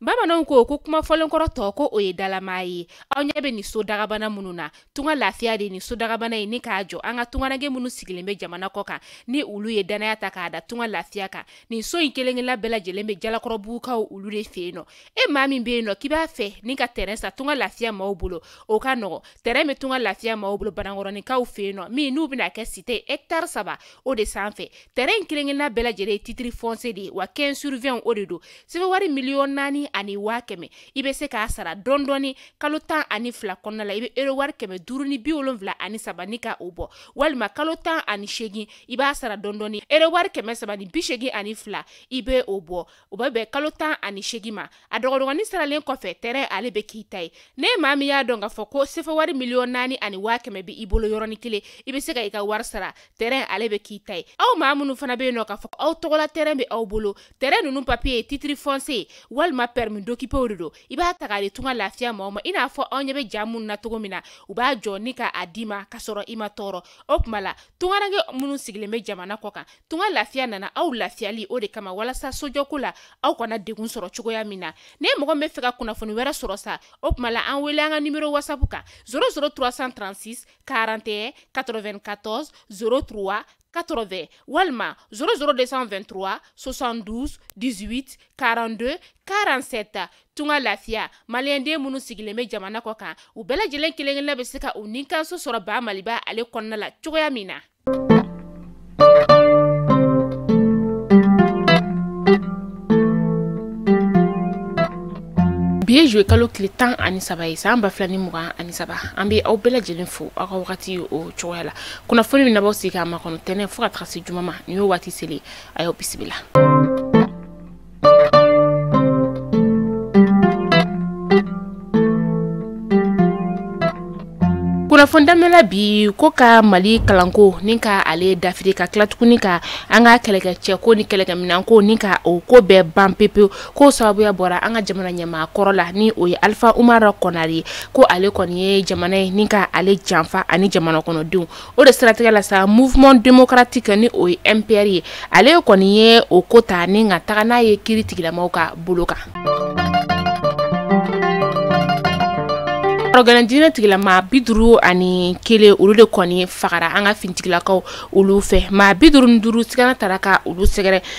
bamananw ko ko kuma fɔlenkɔrɔ tɔ ko o ye dalamaa ye aw ɲɛ bɛ nin so dagabana minnu na tunga lafiya de ye nin so dagabana ye ni k'a jɔ an ka tungarange minnu sigilen bɛ jamana kɔ kan ni olu ye dannaya ta k'a da tunga lafiya kan nin so in kelen-kelenna bɛɛ lajɛlen bɛ jalakɔrɔbugukaw olu de fɛ yen nɔ e maa min bɛ yen nɔ k'i b'a fɛ ni ka tɛrɛn san tunga lafiya maaw bolo o ka nɔgɔ tɛrɛn bɛ tunga lafiya maaw bolo banankɔrɔninkaw fɛ yen nɔ min n'u bɛna kɛ site hɛkitari saba o de sanfɛ tɛrɛn in kelen-kelenna bɛɛ lajɛlen ye titiri fɔnse de ye wa 15 sur 20 o de don sefa wari miliyɔn naani ani waa kɛmɛ i bɛ se k'a sara dɔɔni dɔɔni kalo tan ani fila kɔnɔna la i bɛ euro wari kɛmɛ duuru ni bi wolonwula ani saba ni ka o bɔ walima kalo tan ani seegin i b'a sara dɔɔni dɔɔni euro wari kɛmɛ saba ni bi seegin ani fila i bɛ o bɔ o bɛ bɛn kalo tan ani seegin ma a dɔgɔdɔgɔnin saralen kɔfɛ tɛrɛn ale bɛ k'i ta ye n'e maa min y'a dɔn k'a fɔ ko sefa wari miliyɔn naani ani waa kɛmɛ bɛ i bolo yɔrɔnin kelen i bɛ se ka i ka wari sara tɛrɛn ale bɛ k'i ta ye aw maa minnu fana bɛ yen nɔ k'a fɔ aw tɔgɔla tɛrɛn bɛ aw bolo tɛrɛn ninnu papiye titiri fɔnse walima pɛrɛmi dokipew de don i b'a ta k'a di tunga lafiya maaw ma i n'a fɔ aw ɲɛ bɛ ja minnu na cogo min na u b'a jɔ ni ka a d'i ma ka sɔrɔ i ma tɔɔrɔ o tuma la tungarange minnu sigilen bɛ jamana kɔ kan tunga lafiya nana aw lafiyali o de kama walasa sojɔko la aw kana degun sɔrɔ cogoya min na ni mɔgɔ b'a fɛ ka kunnafoni wɛrɛ sɔrɔ sa o tuma la an wele an ka nimero wasapu kan 00 336 41 94 03 80 walima 00223 72 18 42 47 tunga lafiya maliyɛnden minnu sigilen bɛ jamana kɔ kan u bɛɛ lajɛlen kelen-kelenna bɛ se ka u nikanso sɔrɔ ba maliba ale kɔnɔna la cogoya min na bi ye zuluye kalo tile tan ani saba ye san ba fila ni mugan ani saba an bɛ aw bɛɛ lajɛlen fo aw ka wagati o cogoya la kunnafoni min n'aw b'aw sigi k'a makɔnɔ tɛnɛn fo ka taga se juma ma nin y'o waati selen a y'aw bisimila kunnafoni daminɛla bi ko ka mali kalanko ni ka ale dafiri ka tila tuguni ka an ka kɛlɛkɛcɛko ni kɛlɛkɛminɛnko ni ka o ko bɛɛ ban pepewu k'o sababuya bɔra an ka jamana ɲɛmaa kɔrɔ la ni o ye alifa umara kɔnare ye ko ale kɔni ye jamana ye ni ka ale janfa ani jamana kɔnɔdenw o de siratigɛ la sa mouvement démocratique ni o ye mpr ye ale kɔni ye o ko ta ni ka taga n'a ye kiritigɛla maaw ka bolo kan rɔgɛlɛn dinɛtigila maa bi duuru ani kelen olu de kɔni fagara an ka finitigilakaw olu fɛ maa bi duuru ni duuru sigana tara ka olu sɛgɛrɛ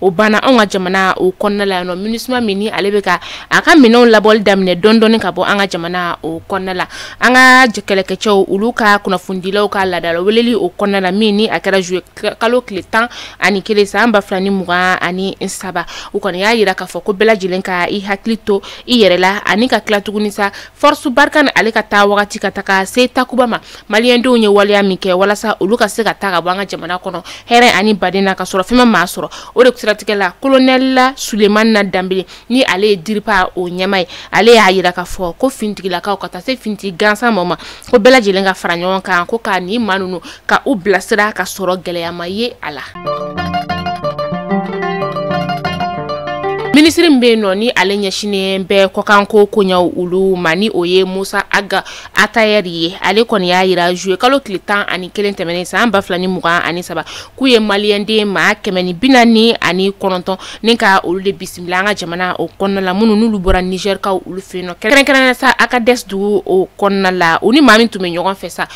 o banna anw ka jamana o kɔnɔna la yan nɔ minusima min ni ale bɛ ka a ka minɛnw labɔli daminɛ dɔɔni dɔɔni ka bɔ an ka jamana o kɔnɔna la an ka kɛlɛkɛcɛw olu ka kunnafonidilaw ka laadala weleli o kɔnɔna la min ni a kɛra juillet kalo tile tan ani kelen san ba fila ni mugan ani saba u kɔni y'a yira k'a fɔ ko bɛɛ lajɛlen ka i hakili to i yɛrɛ la ani ka tila tuguni sa Force Barkhane ale ka taa wagati ka taga se takuba ma maliyɛndenw ye waleya min kɛ walasa olu ka se ka taa ka bɔ an ka jamana kɔnɔ hɛrɛ ani baden na ka sɔrɔ fɛn ma maa sɔrɔ o de siratigɛ la kolonɛli sulemani danbele ni ale ye diripa o ɲɛmaa ye ale y'a yira k'a fɔ ko finitigilakaw ka taa se finitigi gansanmaw ma ko bɛɛ lajɛlen ka fara ɲɔgɔn kan ko ka nin maa ninnu ka u bilasira ka sɔrɔ gɛlɛya ma ye a la minisiri min bɛ yen nɔ ni ale ɲɛsinnen bɛ kɔkanko koɲɛw olu ma ni o ye mosa aga atayɛri ye ale kɔni y'a yira juillet kalo tile tan ani kelen tɛmɛnen san ba fila ni mugan ani saba k'u ye maliyɛnden maa kɛmɛ ni bi naani ani kɔnɔntɔn ni ka olu de bisimila an ka jamana o kɔnɔna la minnu n'olu bɔra nizɛrikaw olu fɛ yen nɔ kɛrɛnkɛrɛnnenya sa agadɛsi dugu o kɔnɔna la u ni maa min tun bɛ ɲɔgɔn fɛ sa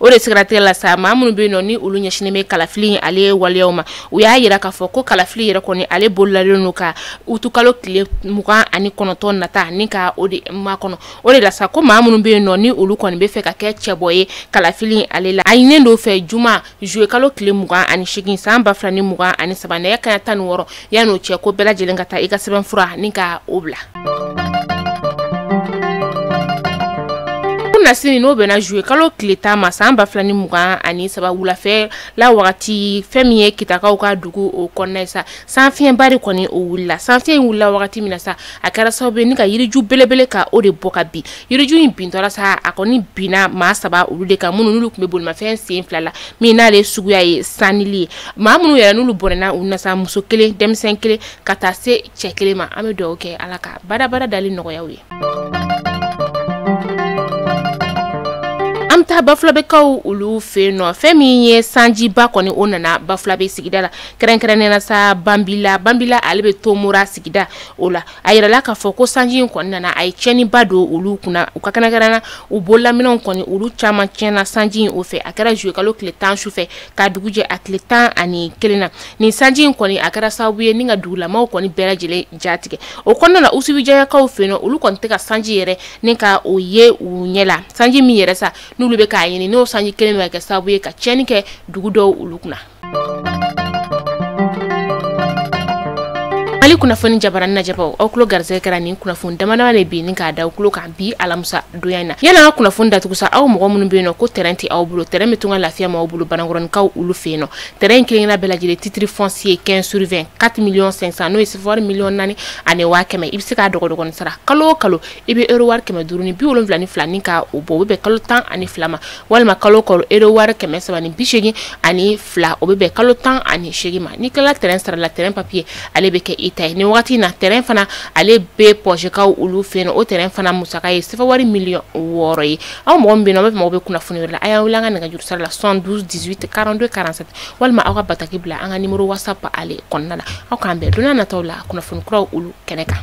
o de siratigɛ la sa maa minnu bɛ yen nɔ ni olu ɲɛsinnen bɛ kalafili ale waleyaw ma u y'a yira k'a fɔ ko kalafili yɛrɛ kɔni ale bololalen don ka utukalo tile mugan ani kɔnɔntɔn nata ni ka o de makɔnɔ o de la sa ko maa minnu bɛ yen nɔ ni olu kɔni bɛ fɛ ka kɛ cɛbɔ ye kalafili ale la a ɲininen don u fɛ juma juillet kalo tile mugan ani seegin san ba fila ni mugan ani saba nɛgɛ kanɲɛ tan ni wɔɔrɔ yanni o cɛ ko bɛɛ lajɛlen ka taa i ka sɛbɛnfura ni ka o bila kunnasini n'o bɛnna juillet kalo tile tan ma san ba fila ni mugan ani saba wulafɛla wagati fɛn min ye kitakaw ka dugu o kɔnɔna ye sa sanfiɲɛba de kɔni o wulila sanfiɲɛ in wulila wagati min na sa a kɛra sababu ye ni ka yiriju belebele ka o de bɔ ka bin yiriju in bintɔla sa a kɔni binna maa saba olu de kan minnu n'olu tun bɛ bolimafɛn sen fila la min n'ale suguya ye sanili ye maa minnu yɛrɛ n'olu bɔnɛna u ni na sa muso kelen denmisɛn kelen ka taa se cɛ kelen ma an bɛ dugawu kɛ ala ka badabada dali nɔgɔya u ye an bɛ taa bafulabekaw olu fɛ yen nɔ fɛn min ye sanjiba kɔni o nana bafulabe sigida la kɛrɛnkɛrɛnnenya la sa banbila banbila ale bɛ tomora sigida o la a yirala k'a fɔ ko sanji in kɔni nana a ye tiɲɛniba don olu kunna u ka kɛnɛkɛrɛnna u bololaminɛnw kɔni olu caman tiɲɛna sanji in o fɛ a kɛra juillet kalo tile tan su fɛ k'a dugu jɛ a tile tan ani kelen na nin sanji in kɔni a kɛra sababu ye ni ka dugulamaw kɔni bɛɛ lajɛlen jatigɛ o kɔnɔna na usubijaɲakaw fɛ yen nɔ olu kɔni tɛ ka sanji yɛrɛ ni ka o ye u ɲɛ la sanji min yɛrɛ sa n'olu bɛ k'a ɲini n'o sanji kelen bɛ ka kɛ sababu ye ka tiɲɛni kɛ dugu dɔw olu kunna mali kunnafoni jabaranin lajɛbaw aw tulo garisɛgɛ kɛra nin kunnafoni damadama de bi ni k'a da aw tulo kan bi alamusa donya in na yanni an ka kunnafoni datugu sa aw mɔgɔ minnu be yen nɔ ko tɛrɛn tɛ aw bolo tɛrɛn be tunga lafiya maaw bolo banankɔrɔnikaw olu fɛ yen nɔ tɛrɛn in kelenkelenna bɛɛ lajɛlen titre foncier 15 sur 20 4 million 500 n'o ye sefa wari miliyɔn naani ani waa kɛmɛ i be se k'a dɔgɔdɔgɔni sara kalo o kalo i bɛ euro wari kɛmɛ duuru ni bi wolonwula ni fila ni ka o bɔ o bɛ bɛn kalo tan ani fila ma walima kalo o kalo euro wari kɛmɛ saba ni bi seegin ani fila o bɛ bɛn kalo tan ani seegin ma n'i tilala tɛrɛn sara la tɛrɛn papiye ale bɛ kɛ i ta ye nin wagati in na tɛrɛn fana ale bɛ pɔsekaw olu fɛ yen o tɛrɛn fana musaka ye sefa wari miliyɔn wɔɔrɔ ye aw mɔgɔ min bɛ yen nɔ aw mago bɛ kunnafoni wɛrɛ la a y'an wele an ka nɛgɛjuru sira la 72 18 42 47 walima aw ka bataki bila an ka nimoro whatsapp ale kɔnɔna la aw k'an bɛn don nataw la kunnafoni kuraw olu kɛnɛ kan